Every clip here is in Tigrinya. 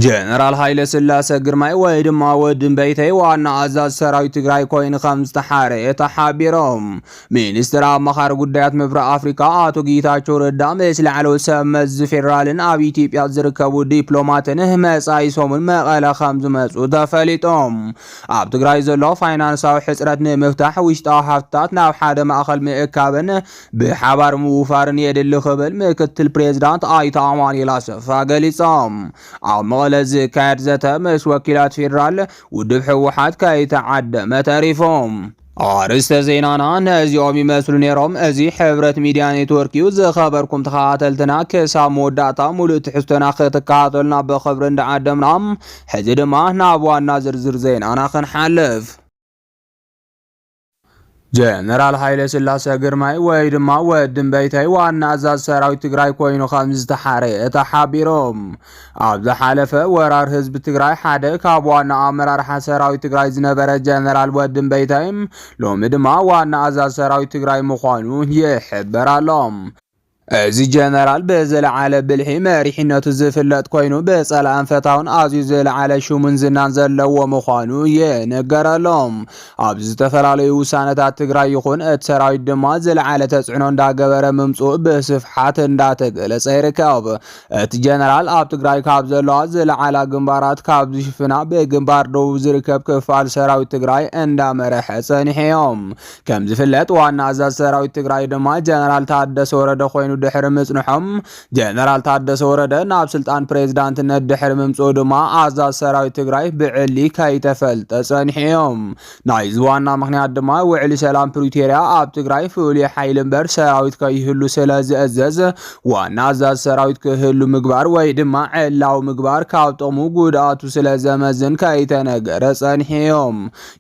ጀነራል ሃይለስላሰ ግርማይ ወይ ድማ ወዲ እምበይተይ ዋና ኣዛዝ ሰራዊት ትግራይ ኮይኑ ከም ዝተሓረየ ተሓቢሮም። ሚኒስትር ኣማኻሪ ጉዳያት ምብራቕ ኣፍሪካ ኣቶ ጌታቸው ረዳ ምስ ላዕለዎት ሰብ መዚ ፌዴራልን ኣብ ኢትዮጵያ ዝርከቡ ዲፕሎማትን መፃኢ ሰሙን መቐለ ከም ዝመፁ ተፈሊጦም። ኣብ ትግራይ ዘሎ ፋይናንሳዊ ሕፅረት ንምፍታሕ ውሽጣዊ ሃፍትታት ናብ ሓደ ማእኸል ምእካብን ብሓባር ምውፋርን የድሊ ክብል ምክትል ፕሬዚዳንት ኣይተ ኣማኑኤል ኣሰፋ ገሊፆም። ኣብ መቐለ ዝካየድ ዘተ ምስ ወኪላት ፌዴራል ውድብ ህወሓት ከይተዓደመ ተሪፎም። ኣርእስተ ዜናና ነዚኦም ይመስሉ ነይሮም። እዚ ሕብረት ሚድያ ኔትወርክ እዩ። ዝኸበርኩም ተኸታተልትና ክሳብ መወዳእታ ሙሉእ ትሕዝቶና ክትከታተሉና ብኽብሪ እንዳዓደምና ሕዚ ድማ ናብ ዋና ዝርዝር ዜናና ክንሓልፍ ጀነራል ሃይለስላሰ ግርማይ ወይ ድማ ወዲ እምበይተይ ዋና ኣዛዚ ሰራዊት ትግራይ ኮይኑ ከም ዝተሓረየ ተሓቢሮም። ኣብ ዝሓለፈ ወራር ህዝቢ ትግራይ ሓደ ካብ ዋና ኣመራርሓ ሰራዊት ትግራይ ዝነበረ ጀነራል ወዲ እምበይተይ ሎሚ ድማ ዋና ኣዛዚ ሰራዊት ትግራይ ምዃኑ ይሕበር ኣሎ። እዚ ጀነራል ብዝለዓለ ብልሒ መሪሕነቱ ዝፍለጥ ኮይኑ ብፀላእን ፈታውን ኣዝዩ ዝለዓለ ሽሙን ዝናን ዘለዎ ምዃኑ ይንገረሎም። ኣብ ዝተፈላለዩ ውሳነታት ትግራይ ይኹን እቲ ሰራዊት ድማ ዝለዓለ ተፅዕኖ እንዳገበረ ምምፅኡ ብስፍሓት እንዳተገለፀ ይርከብ። እቲ ጀነራል ኣብ ትግራይ ካብ ዘለዋ ዝለዓላ ግንባራት ካብ ዝሽፍና ብግንባር ደቡብ ዝርከብ ክፋል ሰራዊት ትግራይ እንዳመረሐ ፀኒሑ እዮም። ከም ዝፍለጥ ዋና ኣዛዝ ሰራዊት ትግራይ ድማ ጀነራል ታደሰ ወረደ ኮይኑ ድሕሪ ምጽንሖም ጀነራል ታደሰ ወረደ ናብ ስልጣን ፕሬዝዳንትነት ድሕሪ ምምጽኡ ድማ ኣዛዝ ሰራዊት ትግራይ ብዕሊ ከይተፈልጠ ጸኒሑ እዮም። ናይዚ ዋና ምክንያት ድማ ውዕሊ ሰላም ፕሪቶርያ ኣብ ትግራይ ፍሉይ ሓይሊ እምበር ሰራዊት ከይህሉ ስለ ዝእዘዝ ዋና ኣዛዝ ሰራዊት ክህሉ ምግባር ወይ ድማ ዕላዊ ምግባር ካብ ጥቕሙ ጉድኣቱ ስለ ዘመዝን ከይተነገረ ጸኒሑ እዮም።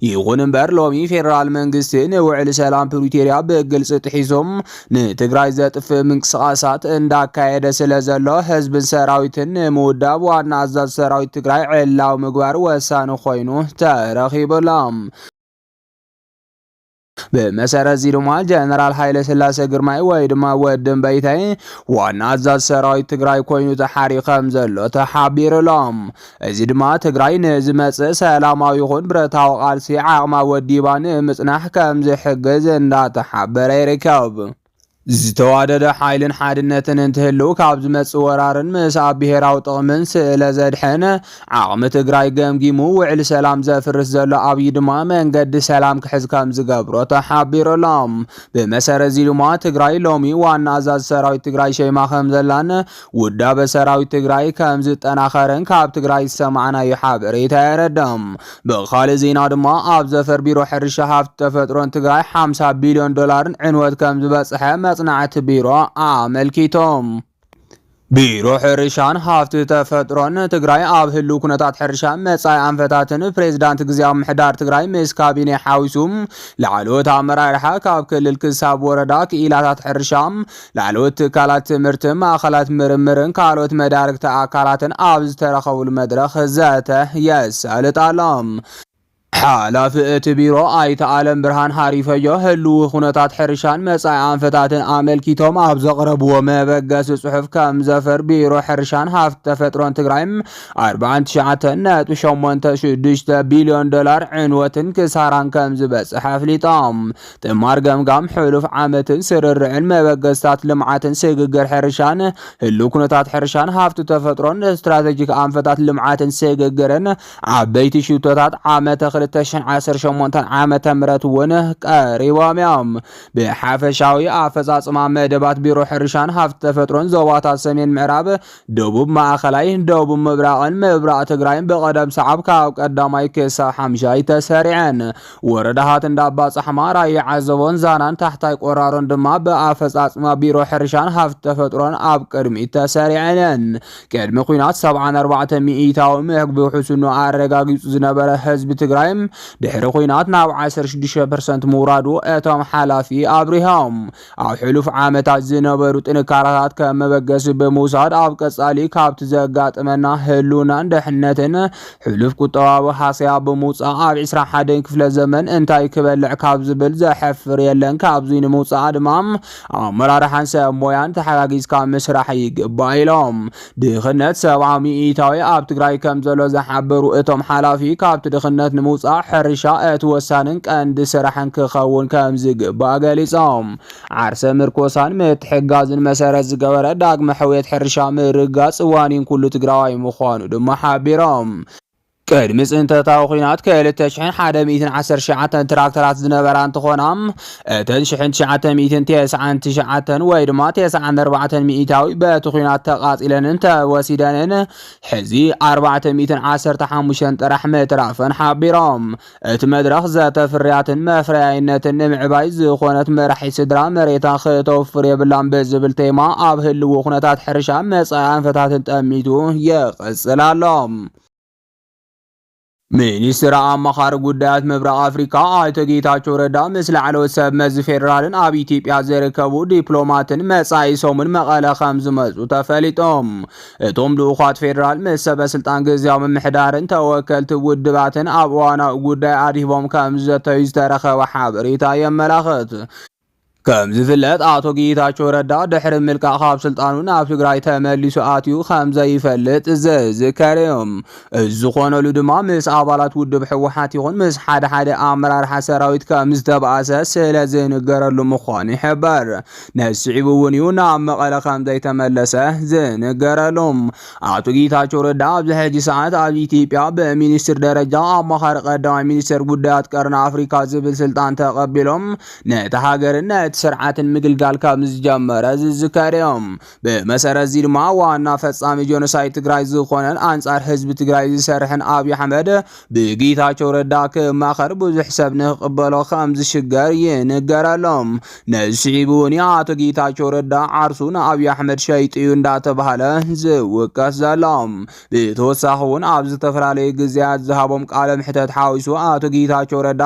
ይኹን እምበር ሎሚ ፌዴራል መንግስቲ ንውዕል ሰላም ፕሪቶሪያ ብግልፂ ጥሒሶም ንትግራይ ዘጥፍእ ምንቅስቓሳት እንዳካየደ ስለ ዘሎ ህዝብን ሰራዊትን ንምውዳብ ዋና ኣዛዝ ሰራዊት ትግራይ ዕላዊ ምግባር ወሳኒ ኮይኑ ተረኺቡሎም። ብመሰረት እዚ ድማ ጀነራል ሃይለ ስላሰ ግርማይ ወይ ድማ ወዲ እምበይተይ ዋና ኣዛዝ ሰራዊት ትግራይ ኮይኑ ተሓርዩ ከም ዘሎ ተሓቢሩሎም እዚ ድማ ትግራይ ንዝመፅእ ሰላማዊ ይኹን ብረታዊ ቃልሲ ዓቕማ ወዲባ ንምፅናሕ ከም ዝሕግዝ እንዳተሓበረ ይርከብ። ዝተዋደደ ሓይልን ሓድነትን እንትህልው ካብ ዝመፅእ ወራርን ምስ ኣብ ብሄራዊ ጥቕምን ስእለ ዘድሕን ዓቕሚ ትግራይ ገምጊሙ ውዕሊ ሰላም ዘፍርስ ዘሎ ኣብይ ድማ መንገዲ ሰላም ክሕዝ ከም ዝገብሮ ተሓቢሩሎም ብመሰረት እዚ ድማ ትግራይ ሎሚ ዋና ኣዛዚ ሰራዊት ትግራይ ሸይማ ከም ዘላን ውዳበ ሰራዊት ትግራይ ከም ዝጠናኸረን ካብ ትግራይ ዝሰማዕናዮ ሓበሬታ የረድእ። ብኻልእ ዜና ድማ ኣብ ዘፈር ቢሮ ሕርሻ ሃፍቲ ተፈጥሮን ትግራይ 50 ቢልዮን ዶላርን ዕንወት ከም ዝበፅሐ መፅናዕቲ ቢሮ ኣመልኪቶም። ቢሮ ሕርሻን ሃፍቲ ተፈጥሮን ትግራይ ኣብ ህልው ኩነታት ሕርሻ መጻኢ ኣንፈታትን ፕሬዚዳንት ግዜያዊ ምሕዳር ትግራይ ምስ ካቢኔ ሓዊሱ ላዕለዎት ኣመራርሓ ካብ ክልል ክሳብ ወረዳ ክኢላታት ሕርሻ ላዕለዎት ትካላት ትምህርትን ማእኸላት ምርምርን ካልኦት መዳርግቲ ኣካላትን ኣብ ዝተረኸብሉ መድረኽ ዘተ የሳልጥ ኣሎ። ሓላፊ እቲ ቢሮ ኣይተ ኣለምብርሃን ሃሪፈዮ ህልዊ ኩነታት ሕርሻን መፃኢ ኣንፈታትን ኣመልኪቶም ኣብ ዘቕረብዎ መበገሲ ፅሑፍ ከም ዘፈር ቢሮ ሕርሻን ሃፍቲ ተፈጥሮን ትግራይ 49.86 ቢልዮን ዶላር ዕንወትን ክሳራን ከም ዝበፅሐ ኣፍሊጦም። ትማር ገምጋም ሕሉፍ ዓመትን ስርርዕን መበገስታት ልምዓትን ስግግር ሕርሻን ህልው ኩነታት ሕርሻን ሃፍቲ ተፈጥሮን ስትራቴጂክ ኣንፈታት ልምዓትን ስግግርን ዓበይቲ ሽቶታት ዓመተ 2018 ዓመተ ምህረት እውን ቀሪቦም እዮም። ብሓፈሻዊ ኣፈፃፅማ መደባት ቢሮ ሕርሻን ሃፍቲ ተፈጥሮን ዞባታት ሰሜን ምዕራብ ደቡብ፣ ማእኸላይ፣ ደቡብ ምብራቕን ምብራቕ ትግራይን ብቐደም ሰዓብ ካብ ቀዳማይ ክሳብ ሓምሻይ ተሰሪዐን። ወረዳታት እንዳባፃሕማ፣ ራያ ዓዘቦን ዛናን ታሕታይ ቆራሮን ድማ ብኣፈፃፅማ ቢሮ ሕርሻን ሃፍቲ ተፈጥሮን ኣብ ቅድሚት ተሰሪዐን እየን። ቅድሚ ኩናት 74 ሚኢታዊ ምግቢ ውሕስኖ ኣረጋጊፁ ዝነበረ ህዝቢ ትግራይ ድሕሪ ኩናት ናብ 16 ፐርሰንት ምውራዱ እቶም ሓላፊ ኣብሪሆም። ኣብ ሕሉፍ ዓመታት ዝነበሩ ጥንካረታት ከም መበገሲ ብምውሳድ ኣብ ቀጻሊ ካብቲ ዘጋጥመና ህልውናን ደሕንነትን ሕሉፍ ቁጠባዊ ሃሰያ ብምውፃእ ኣብ 21 ክፍለ ዘመን እንታይ ክበልዕ ካብ ዝብል ዘሐፍር የለን ካብዙይ ንምውፃእ ድማ ኣመራርሓን ሰብ ሞያን ተሓጋጊዝካ ምስራሕ ይግባእ ኢሎም። ድኽነት ሰብዓ ሚኢታዊ ኣብ ትግራይ ከም ዘሎ ዝሓበሩ እቶም ሓላፊ ካብቲ ድኽነት ንምውፃእ ሕርሻ እቲ ወሳንን ቀንዲ ስራሕን ክኸውን ከም ዝግባእ ገሊፆም። ዓርሰ ምርኮሳን ምትሕጋዝን መሰረት ዝገበረ ዳግመ ሕውየት ሕርሻ ምርግጋፅ ዋኒን ኩሉ ትግራዋይ ምዃኑ ድማ ሓቢሮም። ቅድሚ ፅንተታዊ ኲናት ክልተ ሽሕን ሓደ ሚእትን ዓሰርተ ትሽዓተን ትራክተራት ዝነበራ እንትኾና እተን ሽሕን ትሽዓተ ሚእትን ቴስዓን ትሽዓተን ወይ ድማ ቴስዓን ኣርባዕተን ሚኢታዊ በቲ ኲናት ተቓፂለንን ተወሲደንን ሕዚ ኣርባዕተ ሚእትን ዓሰርተ ሓሙሽተን ጥራሕ ምትራፈን ሓቢሮም። እቲ መድረኽ ዘተ ፍርያትን መፍረያይነትን ንምዕባይ ዝኾነት መራሒ ስድራ መሬታ ክተውፍር የብላን ብዝብል ቴማ ኣብ ህልው ኩነታት ሕርሻ መጻኢ ኣንፈታትን ጠሚቱ ይቕጽል ኣሎ። ሚኒስትር ኣማኻሪ ጉዳያት ምብራቕ ኣፍሪካ ኣይተ ጌታቸው ረዳ ምስ ላዕለዎት ሰብ መዚ ፌዴራልን ኣብ ኢትዮጵያ ዝርከቡ ዲፕሎማትን መጻኢ ሰሙን መቐለ ከም ዝመፁ ተፈሊጦም እቶም ልኡኻት ፌዴራል ምስ ሰበ ስልጣን ግዝያዊ ምምሕዳርን ተወከልቲ ውድባትን ኣብ እዋናዊ ጉዳይ ኣድሂቦም ከም ዝዘተዩ ዝተረኸበ ሓበሬታ የመላኽት። ከም ዝፍለጥ ኣቶ ጌታቸው ረዳ ድሕሪ ምልቃቕ ካብ ስልጣኑ ናብ ትግራይ ተመሊሱ ኣትዩ ከም ዘይፈልጥ ዝዝከር እዩ። እዚ ዝኾነሉ ድማ ምስ ኣባላት ውድብ ሕወሓት ይኹን ምስ ሓደ ሓደ ኣመራርሓ ሰራዊት ከም ዝተባእሰ ስለ ዝንገረሉ ምዃኑ ይሕበር። ንስዒቡ እውን እዩ ናብ መቐለ ከም ዘይተመለሰ ዝንገረሉ። ኣቶ ጌታቸው ረዳ ኣብዚ ሕጂ ሰዓት ኣብ ኢትዮጵያ ብሚኒስትር ደረጃ ኣማኻሪ ቀዳማይ ሚኒስትር ጉዳያት ቀርኒ ኣፍሪካ ዝብል ስልጣን ተቐቢሎም ነቲ ሃገርን ነቲ ስርዓትን ምግልጋል ከም ዝጀመረ ዝዝከር እዩ። ብመሰረት እዚ ድማ ዋና ፈፃሚ ጆኖሳይድ ትግራይ ዝኾነን ኣንፃር ህዝቢ ትግራይ ዝሰርሕን ኣብዪ ኣሕመድ ብጌታቸው ረዳ ክማኸር ብዙሕ ሰብ ንክቕበሎ ከም ዝሽገር ይንገረሎም። ነዚ ስዒቡ እውን ኣቶ ጌታቸው ረዳ ዓርሱ ንኣብዪ ኣሕመድ ሸይጡ እዩ እንዳተባሃለ ዝውቀስ ዘሎ። ብተወሳኺ እውን ኣብ ዝተፈላለዩ ግዜያት ዝሃቦም ቃለ ምሕተት ሓዊሱ ኣቶ ጌታቸው ረዳ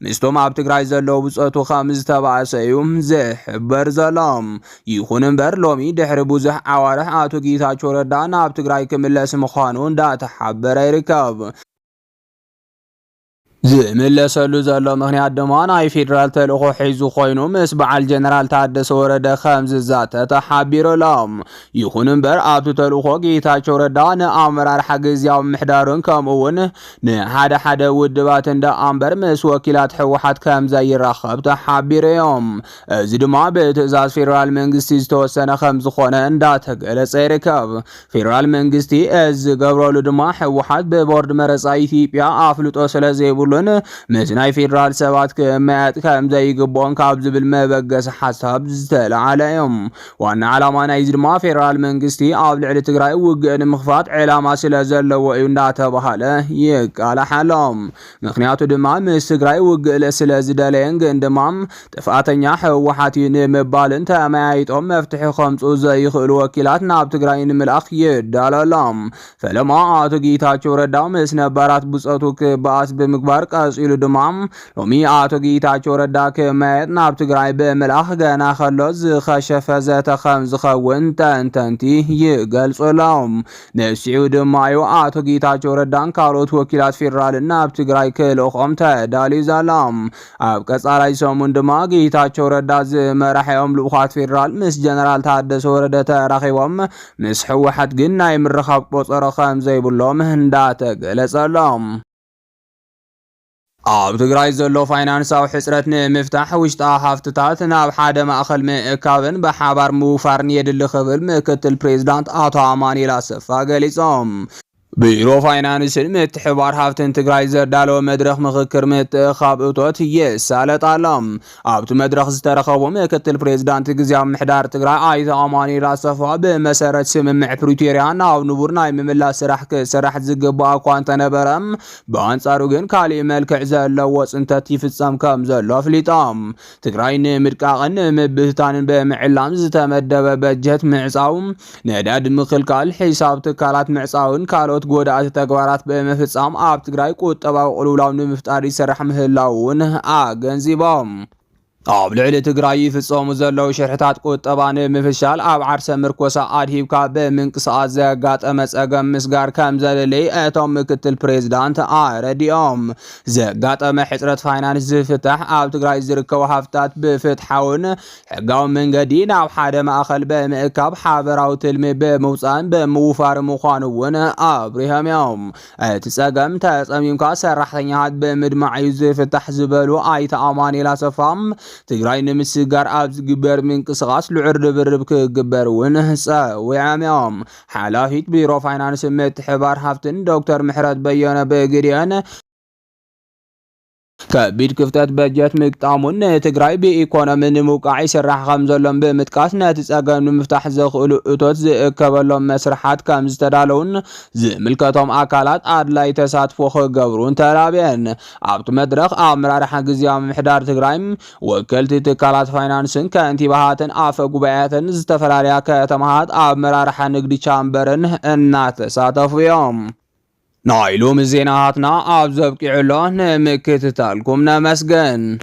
ምስቶም ኣብ ትግራይ ዘለዉ ብፀቱ ከም ዝተባእሰ እዩ ዝሕበር ዘሎ። ይኹን እምበር ሎሚ ድሕሪ ብዙሕ ኣዋርሕ ኣቶ ጌታቸው ረዳ ናብ ትግራይ ክምለስ ምዃኑ እንዳተሓበረ ይርከብ። ዝምለሰሉ ዘሎ ምክንያት ድማ ናይ ፌዴራል ተልእኾ ሒዙ ኮይኑ ምስ በዓል ጀነራል ታደሰ ወረደ ከም ዝዛተ ተሓቢሩ ኣሎ። ይኹን እምበር ኣብቲ ተልእኾ ጌታቸው ረዳ ንኣመራርሓ ግዝያዊ ምሕዳሩን ከምኡ እውን ንሓደ ሓደ ውድባት እንዳ ኣምበር ምስ ወኪላት ህወሓት ከም ዘይራኸብ ተሓቢሩ እዮም። እዚ ድማ ብትእዛዝ ፌዴራል መንግስቲ ዝተወሰነ ከም ዝኾነ እንዳተገለጸ ይርከብ። ፌዴራል መንግስቲ እዚ ዝገብረሉ ድማ ህወሓት ብቦርድ መረፃ ኢትዮጵያ ኣፍልጦ ስለ ዘይብሉን ምስ ናይ ፌዴራል ሰባት ክመያየጥ ከም ዘይግብኦን ካብ ዝብል መበገሲ ሓሳብ ዝተለዓለ እዩ። ዋና ዓላማ ናይዚ ድማ ፌዴራል መንግስቲ ኣብ ልዕሊ ትግራይ ውግእ ንምኽፋት ዕላማ ስለ ዘለዎ እዩ እንዳተባሃለ ይቃላሕ ኣሎ። ምክንያቱ ድማ ምስ ትግራይ ውግእ ስለ ዝደለየን ግን ድማ ጥፍኣተኛ ህወሓት እዩ ንምባልን ተመያይጦም መፍትሒ ከምፁ ዘይኽእሉ ወኪላት ናብ ትግራይ ንምልኣኽ ይዳሎ ኣሎ። ፈለማ ኣቶ ጌታቸው ረዳ ምስ ነባራት ብፆቱ ክበኣስ ብምግባር ቀፂሉ ድማ ሎሚ ኣቶ ጌታቸው ረዳ ክመያየጥ ናብ ትግራይ ብምልኣኽ ገና ከሎ ዝኸሸፈ ዘተ ከም ዝኸውን ተንተንቲ ይገልፁ ኣለዉ። ንስዒቡ ድማ እዩ ኣቶ ጌታቸው ረዳን ካልኦት ወኪላት ፌዴራልን ናብ ትግራይ ክልእኾም ተዳልዩ ዘሎ። ኣብ ቀጻላይ ሰሙን ድማ ጌታቸው ረዳ ዝመራሒኦም ልኡኻት ፌዴራል ምስ ጀነራል ታደሰ ወረደ ተራኺቦም ምስ ሕወሓት ግን ናይ ምርኻብ ቆጸሮ ከም ዘይብሎም እንዳተገለጸሎም ኣብ ትግራይ ዘሎ ፋይናንሳዊ ሕፅረት ንምፍታሕ ውሽጣዊ ሃፍትታት ናብ ሓደ ማእኸል ምእካብን ብሓባር ምውፋርን የድሊ ክብል ምክትል ፕሬዚዳንት ኣቶ ኣማኑኤል ኣሰፋ ገሊፆም። ቢሮ ፋይናንስን ምትሕብባር ሃፍትን ትግራይ ዘዳለዎ መድረኽ ምኽክር ምትእኽኻብ እቶት የሳለጥ ኣሎ። ኣብቲ መድረኽ ዝተረኸቡ ምክትል ፕሬዚዳንት ግዝያዊ ምሕዳር ትግራይ ኣይተ ኣማኑኤል ኣሰፋ ብመሰረት ስምምዕ ፕሪቶሪያ ናብ ንቡር ናይ ምምላስ ስራሕ ክሰራሕ ዝግባእ እኳ እንተነበረ ብኣንጻሩ ግን ካሊእ መልክዕ ዘለዎ ፅንተት ይፍፀም ከም ዘሎ ኣፍሊጦም። ትግራይ ንምድቃቕን ንምብትታንን ብምዕላም ዝተመደበ በጀት ምዕፃው ነዳዲ ምኽልካል፣ ሒሳብ ትካላት ምዕጻውን ካልኦት ጎዳእቲ ተግባራት ብምፍጻም ኣብ ትግራይ ቁጠባዊ ቅልውላው ንምፍጣር ይሰራሕ ምህላው እውን ኣገንዚቦም። ኣብ ልዕሊ ትግራይ ይፍጸሙ ዘለዉ ሽርሕታት ቁጠባ ንምፍሻል ኣብ ዓርሰ ምርኮሳ ኣድሂብካ ብምንቅስቓስ ዘጋጠመ ጸገም ምስጋር ከም ዘድልይ እቶም ምክትል ፕሬዚዳንት ኣረዲኦም። ዘጋጠመ ሕጽረት ፋይናንስ ዝፍታሕ ኣብ ትግራይ ዝርከቡ ሃፍትታት ብፍትሓውን ሕጋዊ መንገዲ ናብ ሓደ ማእኸል ብምእካብ ሓበራዊ ትልሚ ብምውፃእን ብምውፋር ምዃኑ እውን ኣብሪሆም እዮም። እቲ ፀገም ተፀሚምካ ሰራሕተኛታት ብምድማዕ እዩ ዝፍታሕ ዝበሉ ኣይተ ኣማኒኤል ኣሰፋ ትግራይ ንምስግጋር ኣብ ዝግበር ምንቅስቓስ ልዑል ርብርብ ክግበር እውን ፀዊዖም እዮም። ሓላፊት ቢሮ ፋይናንስ ምትሕብባር ሃፍትን ዶክተር ምሕረት በየነ ብግዴን ከቢድ ክፍተት በጀት ምግጣሙን ንትግራይ ብኢኮኖሚ ንምውቃዕ ይስራሕ ከምዘሎን ብምጥቃስ ነቲ ፀገም ንምፍታሕ ዘኽእሉ እቶት ዝእከበሎም መስርሓት ከምዝተዳለዉን ዝምልከቶም ኣካላት ኣድላይ ተሳትፎ ክገብሩን ተላብየን። ኣብቲ መድረኽ ኣመራርሓ ግዝያዊ ምምሕዳር ትግራይ፣ ወከልቲ ትካላት ፋይናንስን ከንቲባሃትን ኣፈ ጉባኤያትን ዝተፈላለያ ከተማሃት ኣመራርሓ ንግዲ ቻምበርን እናተሳተፉ እዮም። ናይ ሎሚ ዜናታትና ኣብዚ ኣብቂዑ ኣሎ ንምክትታልኩም ነመስግን።